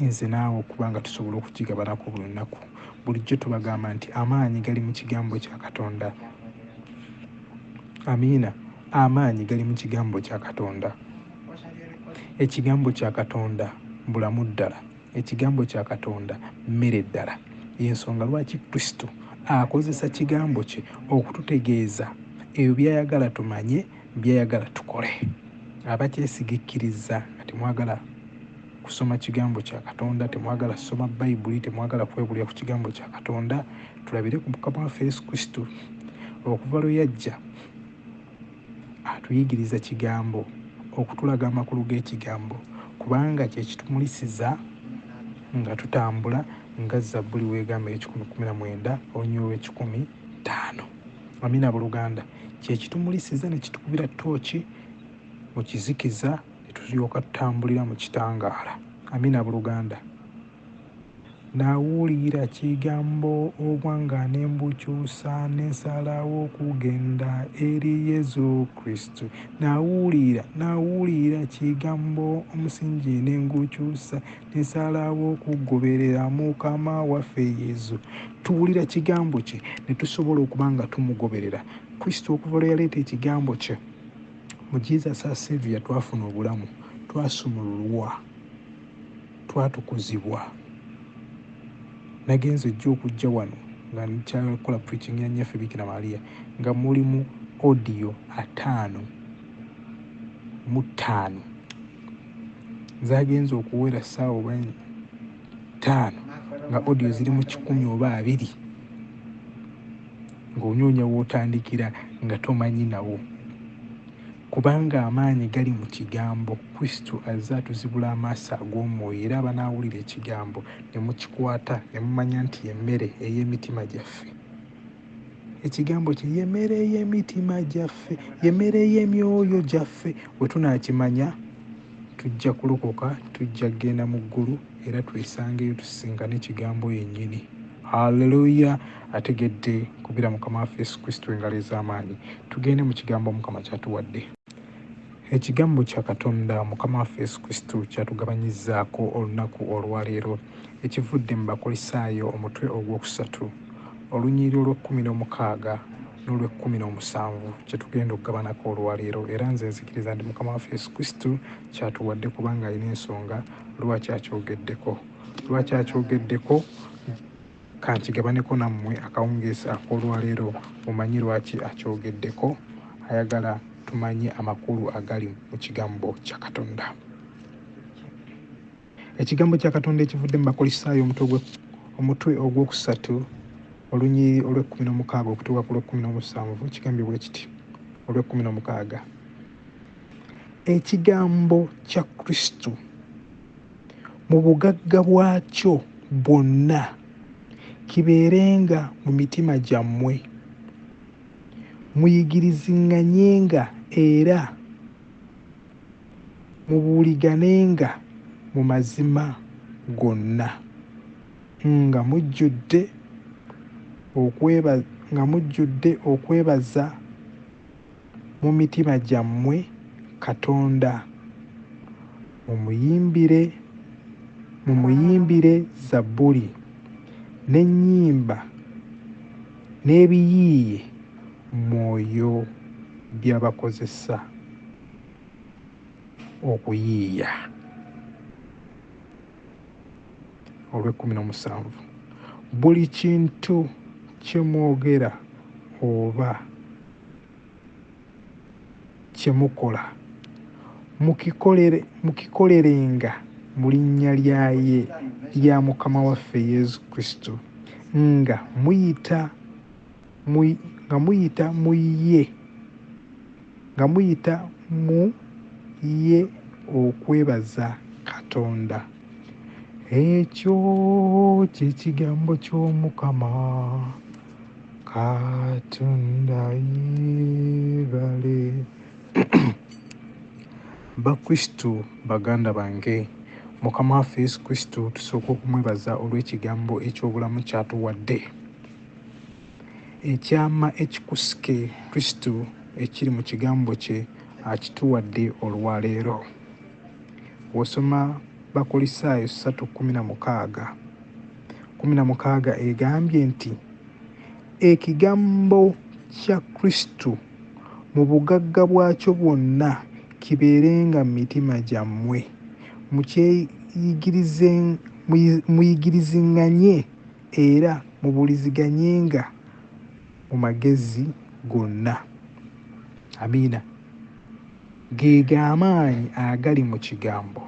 nze naawe okuba nga tusobola okukigabanako buli lunaku. Bulijjo tubagamba nti amaanyi gali mu kigambo kya Katonda. Amiina. Amaanyi gali mu kigambo kya Katonda. Ekigambo kya Katonda bulamu ddala. Ekigambo kya Katonda mmere ddala. Y'ensonga lwaki Kristo akozesa kigambo kye okututegeeza ebyo by'ayagala tumanye, by'ayagala tukole. Abakyesiga ekkiriza nga temwagala. kusoma kigambo kya Katonda, temwagala kusoma Bayibuli, temwagala kwebulira ku kigambo kya Katonda. Tulabire ku Mukama waffe Yesu Kristo, okuva lwe yajja atuyigiriza kigambo, okutulaga amakulu g'ekigambo, kubanga kye kitumulisiza nga tutambula nga Zabbuli w'egamba ekikumi kumi na mwenda olunyiri olw'ekikumi ttaano. Amina buluganda, kye kitumulisiza ne kitukubira ttooki mu kizikiza. ne tulyoka tutambulira mu kitangaala. Amina buluganda. Nawuliira kigambo obwanga ne mbukyusa ne nsalawo kugenda eri Yesu Kristo. Nawuliira, nawuliira kigambo omusingi ne ngukyusa ne nsalawo kugoberera Mukama waffe Yesu. Tuwulira kigambo kye ne tusobola okuba nga tumugoberera. Kristo okuva lwe yaleeta ekigambo kye. Mu Jesus our Saviour twafuna obulamu, twasumululwa, twatukuzibwa. Nagenze ejja okujja wano nga nkyakola preaching ya nyaffe Bikira Maria nga muli mu audio ataano mu ttaano zagenze okuwera saawa oba ttaano nga audio ziri mu kikumi oba abiri. ng'onoonya w'otandikira nga tomanyi nawo. Kubanga amaanyi gali mu kigambo. Kristo azze atuzibula amaaso ag'omwoyo era abanaawulira ekigambo ne mukikwata ne mumanya nti y'emmere ey'emitima gyaffe. Ekigambo kye y'emmere ey'emitima gyaffe, y'emmere ey'emyoyo gyaffe. Bwe tunaakimanya tujja kulokoka, tujja kugenda mu ggulu. era twesangeyo tusisinkane ekigambo yennyini haleluya ategedde kubira mukama waffe yesu kristo engalo ez'amaanyi tugende mu kigambo mukama kyatuwadde ekigambo kya katonda mukama waffe yesu kristo kyatugabanyizaako olunaku olwaleero ekivudde mu bakolisaayo omutwe ogwokusatu olunyiri olw'ekkumi n'omukaaga n'olw'ekkumi n'omusanvu kyetugenda okugabanako olwaleero era nze nzikiriza nti mukama waffe yesu kristo kyatuwadde kubanga alina ensonga lwaki akyogeddeko lwaki akyogeddeko kankigabaneko nammwe akawungeesi ak'olwaleero mumanyi lwaki akyogeddeko ayagala tumanye amakulu agali mu kigambo kya katonda ekigambo kya katonda ekivudde mu bakolisaayo omutwe ogwokusatu olunyiriri olw'ekkumi n'omukaaga okutuuka ku lw'ekkumi n'omusanvu kigambibwa ekiti olw'ekkumi n'omukaaga Ekigambo kya Kristo mu bugagga bwakyo bwonna kibeerenga mu mitima gyammwe. Muyigiriziŋŋanyenga era mubuuliganenga mu mazima gonna nga mujjudde nga mujjudde okwebaza. mu mitima gyammwe Katonda, mumuyimbire mumuyimbire zabbuli n'ennyimba n'ebiyiiye mwoyo by'abakozesa okuyiiya olw'ekkumi n'omusanvu buli kintu kye mwogera oba kye mukola mukikolerenga mu linnya lya ye lya mukama waffe yesu kristo nga muyita nga muyita mu ye nga muyita mu ye okwebaza katonda ekyo kyekigambo ky'omukama katonda yebale bakristu baganda bange mukama waffe yesu kristu tusooka okumwebaza olw'ekigambo eky'obulamu kyatuwadde ekyama ekikusike kristu ekiri mu kigambo kye akituwadde olwaleero wosoma bakulisaayo 316 kumi na mukaaga egambye nti ekigambo kya Kristo mu bugagga bwakyo bwonna kibeerenga mu mitima gyammwe muyigiriziŋŋanye era mubuuliziganyenga mu magezi gonna. Amiina. Ge g'amaanyi agali mu kigambo.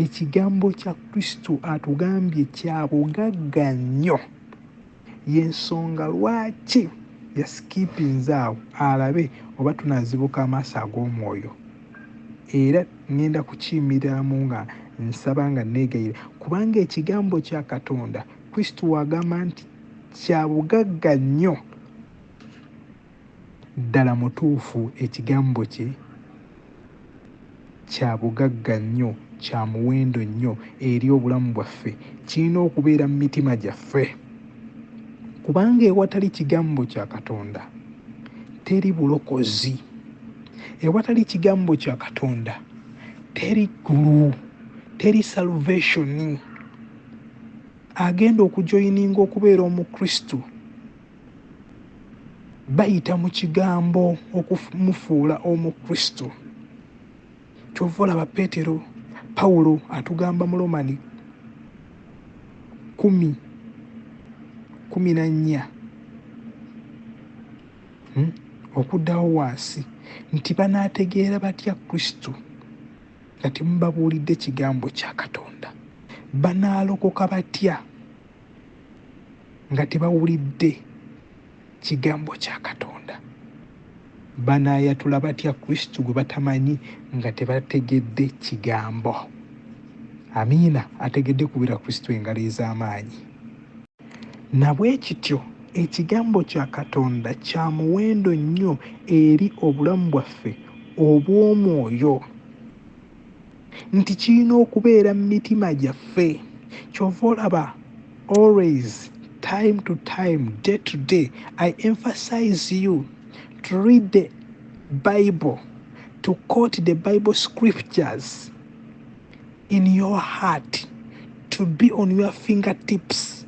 Ekigambo kya Kristo atugambye kya bugagga nnyo. Y'ensonga lwaki yasikipinze awo alabe oba tunaazibuka amaaso ag'omwoyo. Era ŋŋenda kukiyimiriramu nga nsaba nga nneegayira, kubanga ekigambo kya Katonda, Kristo w'agamba nti kya bugagga nnyo Ddala mutuufu ekigambo kye kya bugagga nnyo, kya muwendo nnyo eri obulamu bwaffe. Kirina okubeera mu mitima gyaffe. Kubanga ewatali kigambo kya Katonda teri bulokozi. Ewatali kigambo kya Katonda teri ggulu, teri salvation. Agenda okujoyininga okubeera omukristu. bayita mu kigambo okumufuula omukristo kyova olaba peetero pawulo atugamba mu lomani kumi kumi na nnya hmm? okuddawo wansi nti banaategeera batya kristo nga temubabuulidde kigambo kya katonda banaalokoka batya nga tebawulidde kigambo kya katonda banaayatula batya kristo gwe batamanyi nga tebategedde kigambo amiina ategedde kubira kristo engalo ez'amaanyi nabwekityo ekigambo kya katonda kya muwendo nnyo eri obulamu bwaffe obw'omwoyo nti kirina okubeera mu mitima gyaffe kyova olaba always time to time day to day i emphasize you to read the bible to quote the bible scriptures in your heart to be on your fingertips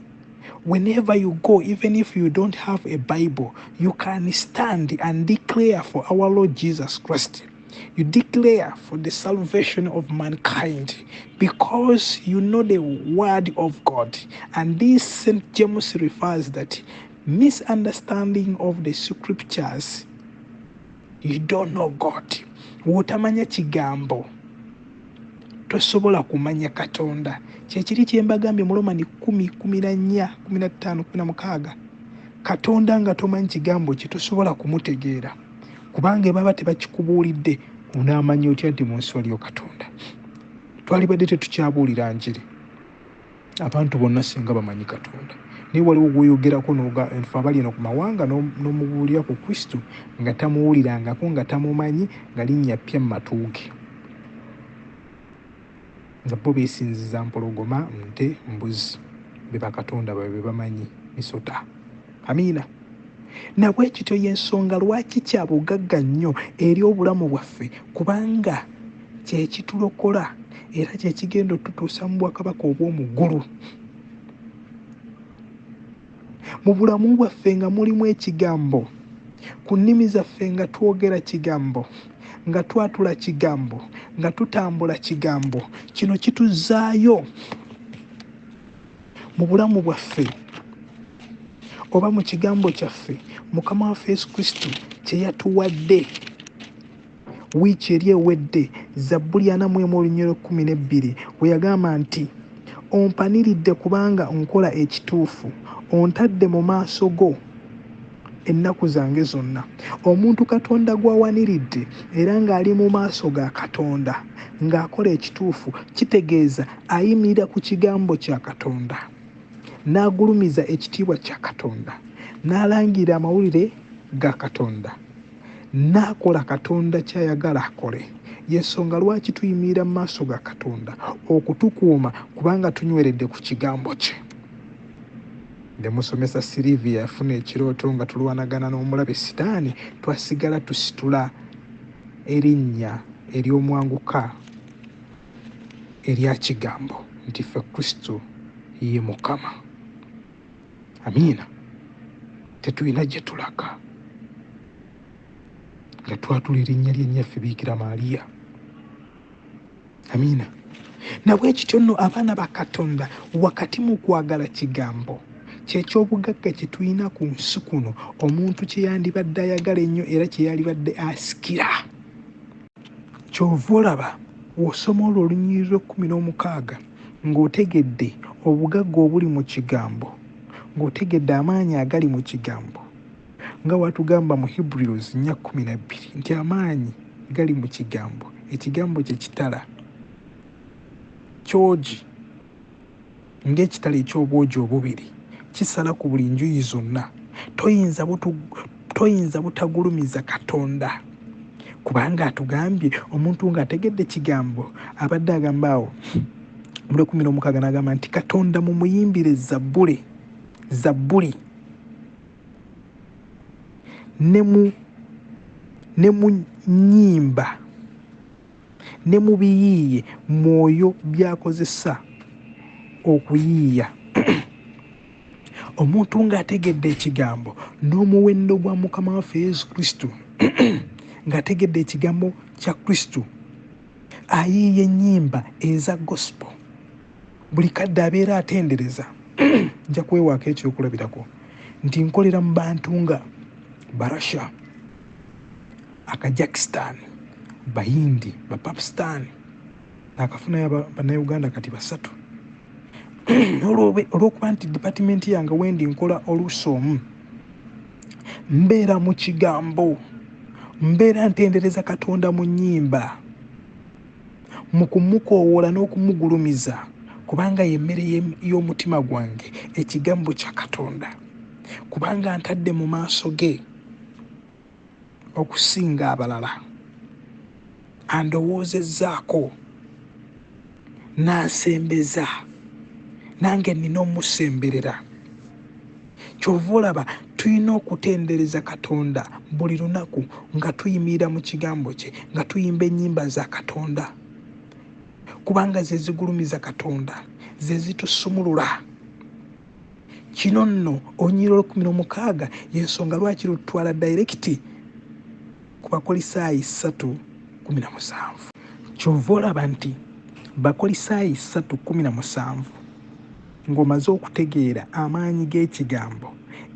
whenever you go even if you don't have a bible you can stand and declare for our lord jesus christ You declare for the salvation of mankind because you know the word of God. And this St. James refers that misunderstanding of the scriptures, you don't know God. Wotamanya chigambo. tosobola kumanya katonda kyekiri kyembagambye mulomani kumi kumi na nnya kumi na ttaano kumi na mukaaga katonda nga tomanyi kigambo kye tosobola kumutegeera kubanga ebaba tebakikubuulidde onaamanya otya nti mu nsi waliyo katonda twalibadde tetukyabuulira njiri abantu bonna singa bamanyi katonda naye waliwo gwoyogerako nfe abali eno ku mawanga n'omubuulira ku kristo nga tamuwulirangako nga tamumanyi nga linnya ppya mu matuuge Nga bo besinziza mpologoma, nte, mbuzi be bakatonda babwe bebamanyi. Misota. Amiina. Nabwekityo yensonga lwaki kya bugagga nnyo eri obulamu bwaffe kubanga kyekitulokola era kyekigenda otutuusa mu bwakabaka obwomuggulu. mu bulamu bwaffe nga mulimu ekigambo ku nnimi zaffe nga twogera kigambo nga twatula kigambo nga tutambula kigambo kino kituzaayo mu bulamu bwaffe oba mu kigambo kyaffe mukama waffe yesu kristo kye yatuwadde Wiiki eri ewedde, Zabbuli ana mu emu olunyiriri olw'ekkumi n'ebbiri, bwe yagamba nti, Ompaniridde kubanga nkola ekituufu, ontadde mu maaso go ennaku zange zonna. Omuntu Katonda gw'awaniridde era ng'ali mu maaso ga Katonda ng'akola ekituufu, kitegeeza ayimirira ku kigambo kya Katonda, n'agulumiza ekitiibwa kya Katonda, n'alangirira amawulire ga Katonda. n'akola Katonda ky'ayagala akole. Y'ensonga lwaki tuyimirira mu maaso ga Katonda okutukuuma kubanga tunyweredde ku kigambo kye. Ne musomesa Sylvia yafuna ekirooto nga tulwanagana n'omulabe sitaani, twasigala tusitula erinnya ery'omwanguka erya kigambo nti ffe Kristo ye Mukama. amiina tetulina gye tulaga nga twatula erinnya lyennyaffe biikira maaliya amiina nabwe kityo nno abaana ba katonda wakati mu kwagala kigambo kyekyobugagga kye tulina ku nsi kuno omuntu kye yandibadde ayagala ennyo era kye yalibadde asikira Kyova olaba wosoma olwo olunyiriri lw'ekkumi n'omukaaga ng'otegedde obugagga obuli mu kigambo, ng'otegedde amaanyi agali mu kigambo, nga watugamba mu Hebrews nnya kkumi na bbiri nti amaanyi gali mu kigambo, ekigambo kye kitala kyogi. Ng'ekitala eky'obwogi obubiri, kisala ku buli njuyi zonna. Toyinza butu, toyinza butagulumiza Katonda, kubanga atugambye omuntu ng'ategedde kigambo abadde agamba awo mule kumi n'omukaaga n'agamba nti katonda mumuyimbire zabbule zabbuli ne mu nyimba ne mu biyiiye mwoyo by'akozesa okuyiiya omuntu ng'ategedde ekigambo n'omuwendo gwa mukama waffe yesu kristo ng'ategedde ekigambo kya kristo ayiiya ennyimba eza gospel buli kadde abeera atendereza nja kwewaako ekyokulabirako nti nkolera mu bantu nga barasha akajakistan bayindi bapakistan nakafunayo banauganda kati basatu olwokuba nti dipatimenti yange wendi nkola oluusi omu mbeera mu kigambo mbeera ntendereza katonda mu nyimba mu kumukoowoola n'okumugulumiza kubanga y'emmere y'omutima gwange ekigambo kya katonda kubanga ntadde mu maaso ge okusinga abalala andowoozezzaako n'asembeza nange nnina omusemberera Kyova olaba tulina okutendereza Katonda buli lunaku nga tuyimirira mu kigambo kye, nga tuyimba ennyimba za Katonda kubanga ze zigulumiza Katonda, ze zitusumulula. Kino nno olunyiriro olukumi n'omukaaga y'ensonga lwaki lututwala dayirekiti ku Bakolisaayi ssatu kumi na musanvu. Kyova olaba nti Bakolisaayi ssatu kumi na musanvu Ng'omaze okutegeera amaanyi g'Ekigambo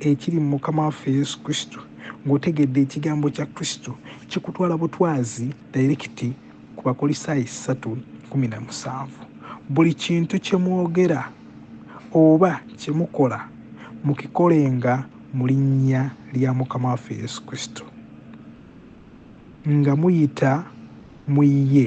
ekiri mu Mukama waffe Yesu Kristo, ng'otegedde Ekigambo kya Kristo, kikutwala butwazi dayirekiti ku Bakolisaayi ssatu kkumi na musanvu. Buli kintu kye mwogera oba kye mukola mukikolenga mu linnya lya Mukama waffe Yesu Kristo, nga muyita mu ye.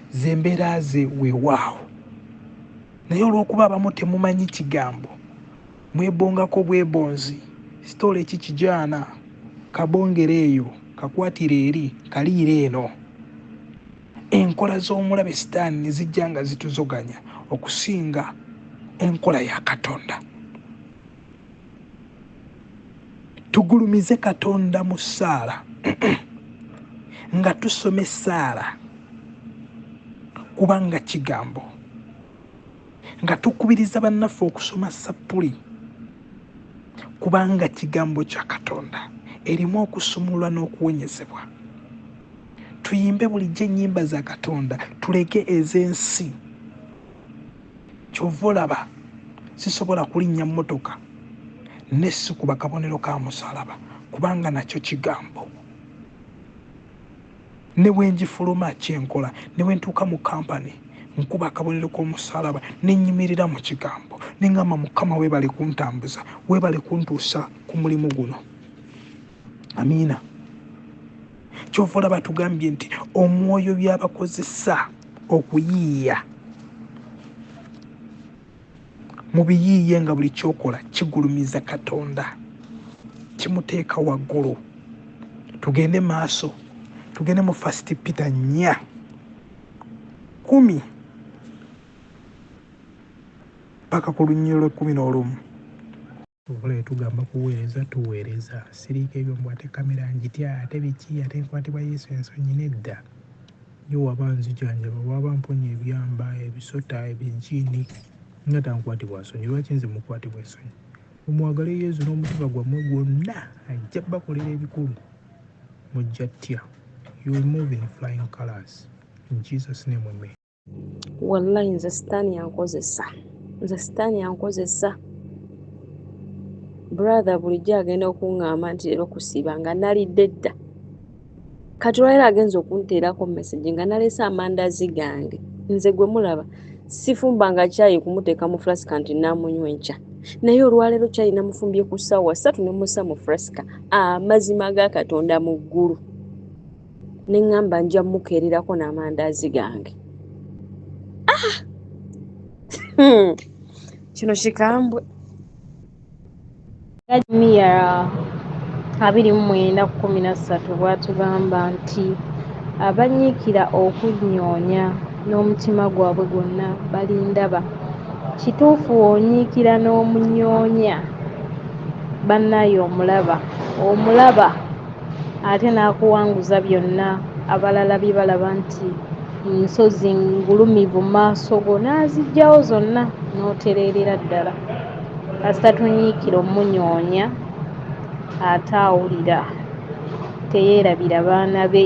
zembeera ze wewaawo naye olwokuba abamu temumanyi kigambo mwebongako bwebonzi sitoola eki kijaana kabongere eyo kakwatire eri kaliire eno enkola z'omulabe sitaani nezijja nga zituzoganya okusinga enkola ya katonda tugulumize katonda mu ssaala nga tusoma essaala kubanga kigambo nga tukubiriza bannaffe okusoma sappuli kubanga kigambo kya katonda erimu okusumulwa n'okuwonyezebwa tuyimbe bulijjo ennyimba za katonda tuleke ez'ensi kyova olaba sisobola kulinnya mmotoka ne sikuba kabonero ka musalaba kubanga nakyo kigambo ne bwe ngifuluma kyenkola ne bwe ntuuka mu kampani nkuba akabonero k'omusalaba ne nnyimirira mu kigambo ne ngamba mukama weebale kuntambuza weebale kuntuusa ku mulimu guno amiina kyova olaba tugambye nti omwoyo byabakozesa okuyiiya mubiyiiye nga buli kyokola kigulumiza katonda kimuteeka waggulu tugende maaso tugende mu fast peter nya kumi paka ku lunyiro lwekumi n'olumu Wabula yetugamba kuweereza tuweereza. Siriiko ebyo mbu ate kamera ngitya ate biki ate nkwatibwa Yesu ensonyi nedda. Ye waba anzijanjaba, waba amponya ebyamba, ebisota, ebijiini nga tankwatibwa nsonyi lwaki nze mukwatibwa ensonyi? Mumwagale Yesu n'omutima gwammwe gwonna ajja bakolera ebikulu. Mujja ttya. You will move in flying colors. In Jesus name amen. wallahi nze sitaani yankozesa nze sitaani yankozesa brother bulijjo agenda okuŋŋamba nti leero kusiiba nga nalidde dda kati olwalero agenza okunteerako message nga naleese amandazi gange nze gwe mulaba sifumba nga kyayi kumuteeka mu flasika nti namunywa enkya naye olwaleero kyayi namufumbye ku ssaawa satu nemusa mu flasika amazima ga katonda mu ggulu ne ŋŋamba nja mukeererako n'amandaazi gange ah! hmm. kino kikambwe miya abiri mu mwenda kkumi na ssatu bw'atugamba nti abanyiikira okunyoonya n'omutima gwabwe gwonna balindaba kituufu onyiikira n'omunyoonya bannaye omulaba omulaba ate n'akuwanguza byonna abalala bye balaba nti nsozi ngulumivu mu maaso go n'aziggyawo zonna n'otereerera ddala kasita tunyiikira omunyoonya ate awulira teyeerabira baana be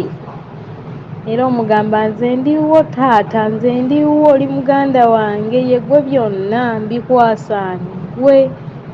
era omugamba nze ndiwo taata nze ndiwo oli muganda wange yegwe byonna mbikwasaani gwe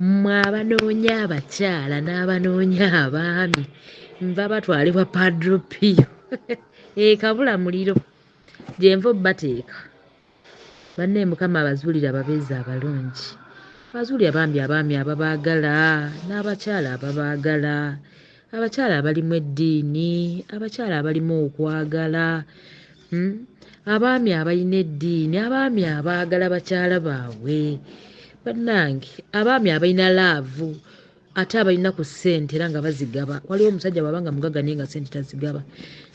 Mmwe abanoonya abakyala n'abanoonya abaami nva batwalibwa padropiyo ekabula eh, muliro gyenva obbateeka banne mukama abazuulire ababeezi abalungi abazuulire bambi abaami ababaagala n'abakyala ababaagala abakyala abalimu eddiini abakyala abalimu okwagala hmm? abaami abalina eddiini abaami abaagala bakyala baabwe bannange abaami abalina laavu ate abalina ku ssente era nga bazigaba waliwo omusajja bwaba nga mugaga naye nga ssente tazigaba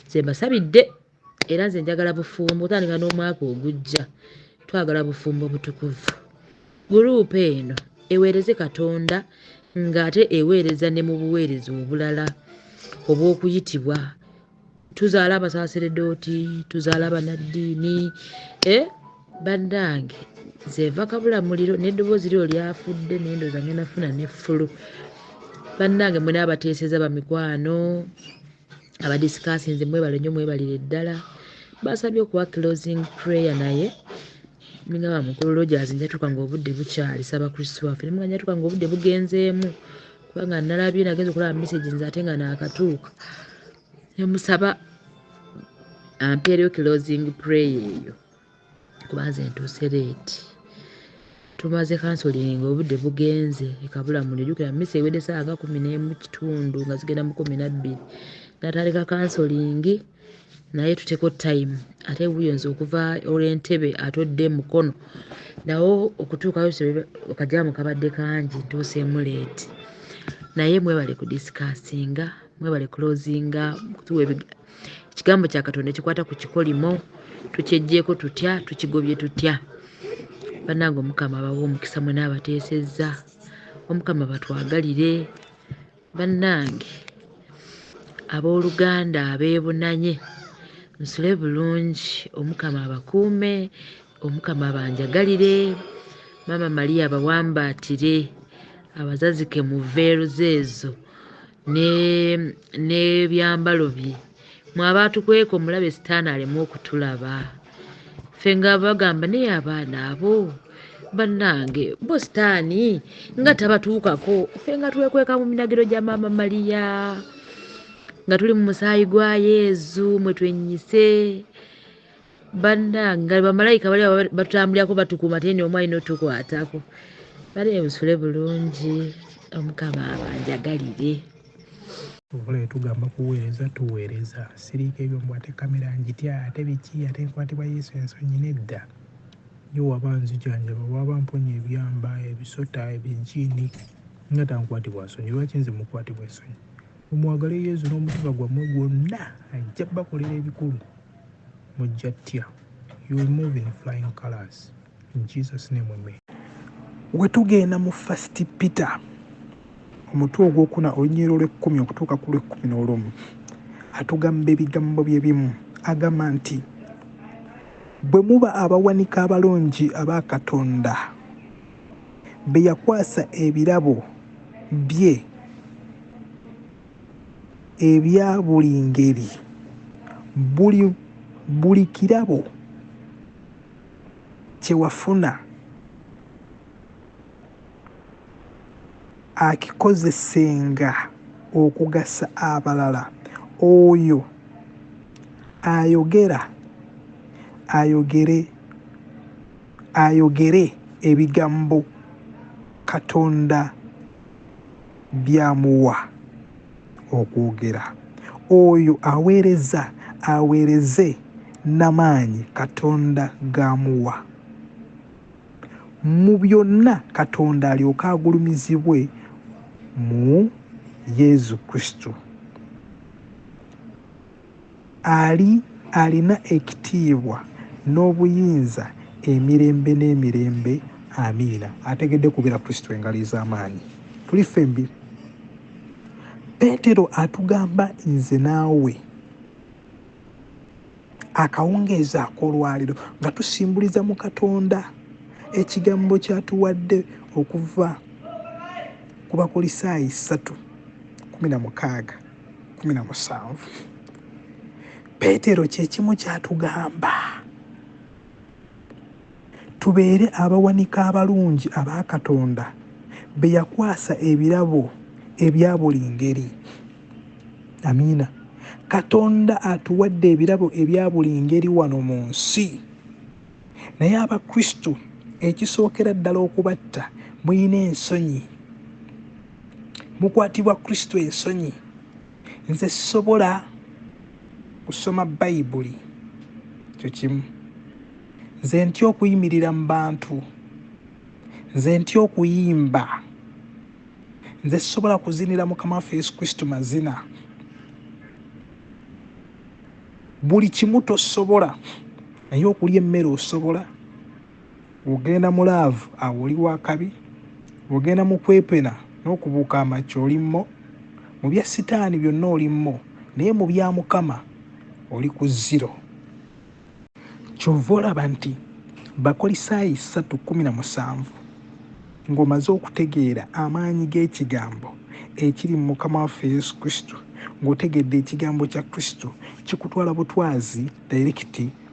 nze mbasabidde era nze njagala bufumbo otandika n'omwaka ogujja twagala bufumbo butukuvu guruupu eno eweereze katonda ng'ate eweereza ne mu buweereza obulala obw'okuyitibwa tuzaala abasaseredooti tuzaala abanaddiini e bannange zeeva kabula muliro n'eddoboozi lyo lyafudde nendooza ngenda funa ne ffulu bannange mwena abateeseza bamikwano abadisikaasi nze mwebale nyo mwebalire ddala basabye okuwa closing prayer naye nigamba mukulu rogers njatuka nga obudde bukyali saba kristu waffe nimuga njatuka nga obudde bugenzeemu kubanga nalabye nagenza okulaba message nze ate nga naakatuuka nemusaba ampeereyo closing prayer eyo kuba nze ntuuse leeti tumaze kansolinga obudde bugenze ekabula muli jukira misa ewedde saawa nga kumi n'emu kitundu nga zigenda mu kumi nabbiri natandika kansolingi naye tuteko time ate buyo nze okuva olwentebe atodde mukono nawo okutuukayo okajamu kabadde kangi ntuuseemu leeti naye mwebale kudisikasinga mwebale kulozinga kutuwa ekigambo kya katonda ekikwata ku kikolimo tukyejjeeko tutya tukigobye tutya bannange omukama abawa omukisa mwena abateesezza omukama batwagalire bannange abooluganda abeebunanye nsule bulungi omukama abakuume omukama abanjagalire maama maria abawambaatire abazazike mu veeruza ezo n'ebyambalo bye mwe abaatukweka omulabe sitaani aleme okutulaba ffe nga bagamba naye abaana abo bannange bo sitaani nga tabatuukako ffe nga twekweka mu minagiro gya maama maliya nga tuli mu musaayi gwa yezu mwe twenyise bannanga bamalayika bali batutambulirako batukuuma tee ni omu alina otukwatako bali ebusule bulungi omukama abanjagalire okola etugamba kuweereza tuweereza siriika ebyo mbu ate kamera ngitya ate biki ate nkwatibwa yesu ensonyi nedda ye waba nzijanjaba waba mponya ebyamba ebisota ebijiini nga tankwatibwa nsonyi lwaki nze mukwatibwa ensonyi Mumwagale Yezu n'omutima gwammwe gwonna ajja bakolera ebikulu mujja ttya. You will move in flying colors. In Jesus name amen. Wetugenda mu first Peter omutwe ogwokuna olunyiriro lw'ekkumi okutuuka ku lw'ekkumi n'olumu atugamba ebigambo bye bimu agamba nti bwe muba abawanika abalungi aba Katonda be yakwasa ebirabo bye ebya buli ngeri buli buli kirabo kyewafuna akikozesenga okugasa abalala oyo ayogera ayogere ayogere ebigambo katonda byamuwa okwogera oyo aweereza aweereze namaanyi katonda gaamuwa mu byonna katonda alyoke agulumizibwe mu yezu kristu Ali alina ekitiibwa n'obuyinza emirembe n'emirembe. Amiina. Ategedde kubira Kristo engalo ez'amaanyi. Tuli ffembi. Peetero atugamba nze naawe akawungeezi akolwaliro nga tusimbuliza mu katonda ekigambo kyatuwadde okuva ku bakulisaayi 3:16 kumi na musanvu peetero kyekimu kyatugamba tubeere abawanika abalungi aba katonda be yakwasa ebirabo ebya buli ngeri amiina katonda atuwadde ebirabo ebya buli ngeri wano mu nsi naye abakristu ekisookera ddala okubatta mulina ensonyi mukwatibwa kristo ensonyi nze sisobola kusoma bayibuli kyo kimu nze ntya okuyimirira mu bantu nze ntya okuyimba nze sisobola kuzinira mukama waffe yesu kristo mazina buli kimu tosobola naye okulya emmere osobola Wogenda mu laavu awo oli wa kabi, wogenda mu kwepena n'okubuuka amakya oli mmo, mu bya sitaani byonna oli mmo naye mu bya Mukama oli ku zero. Ky'ova olaba nti Bakolisaayi ssatu kkumi na musanvu ng'omaze okutegeera amaanyi g'ekigambo ekiri mu Mukama waffe Yesu Kristo, ng'otegedde ekigambo kya Kristo kikutwala butwazi dayirekiti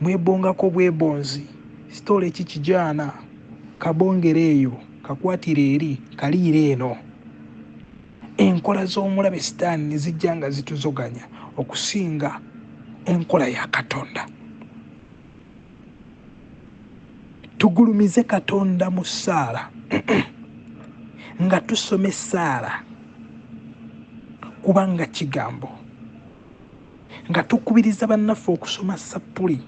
Mwebongako bwebonzi story ki kijaana kabongere eyo kakwatire eri kaliire eno. Enkola z'omulabe sitaani nezijja nga zituzoganya okusinga enkola ya Katonda. Tugulumize Katonda mu ssaala nga tusoma essaala kubanga kigambo. nga tukubiriza bannaffe okusoma sappuli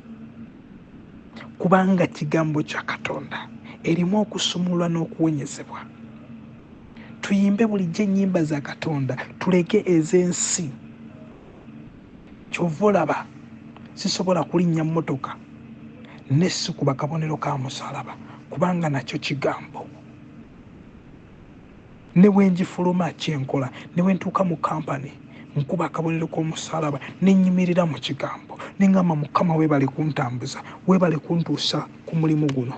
kubanga kigambo kya katonda erimu okusumulwa n'okuwonyezebwa tuyimbe bulijjo ennyimba za katonda tuleke ez'ensi kyova olaba sisobola kulinnya mmotoka nesikuba kabonero ka musalaba kubanga nakyo kigambo Ne bwe ngifuluma, kye nkola, ne bwe ntuuka mu kampani, nkuba akabonero k'omusaalaba, ne nnyimirira mu Kigambo, ne ŋŋamba, Mukama, weebale kuntambuza. Weebale kuntuusa ku mulimu guno.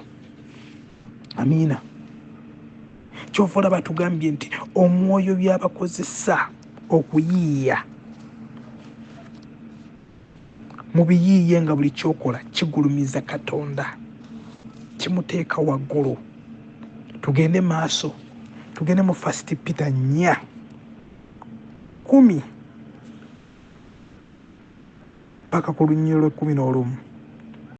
Amiina. Ky'ova olaba tugambye nti Omwoyo by'abakozesa okuyiiya. mubiyiiye nga buli kyokola kigulumiza katonda kimuteeka waggulu tugende maaso tugende mu fast peter nya kumi paka ku lunyiro lwekumi n'olumu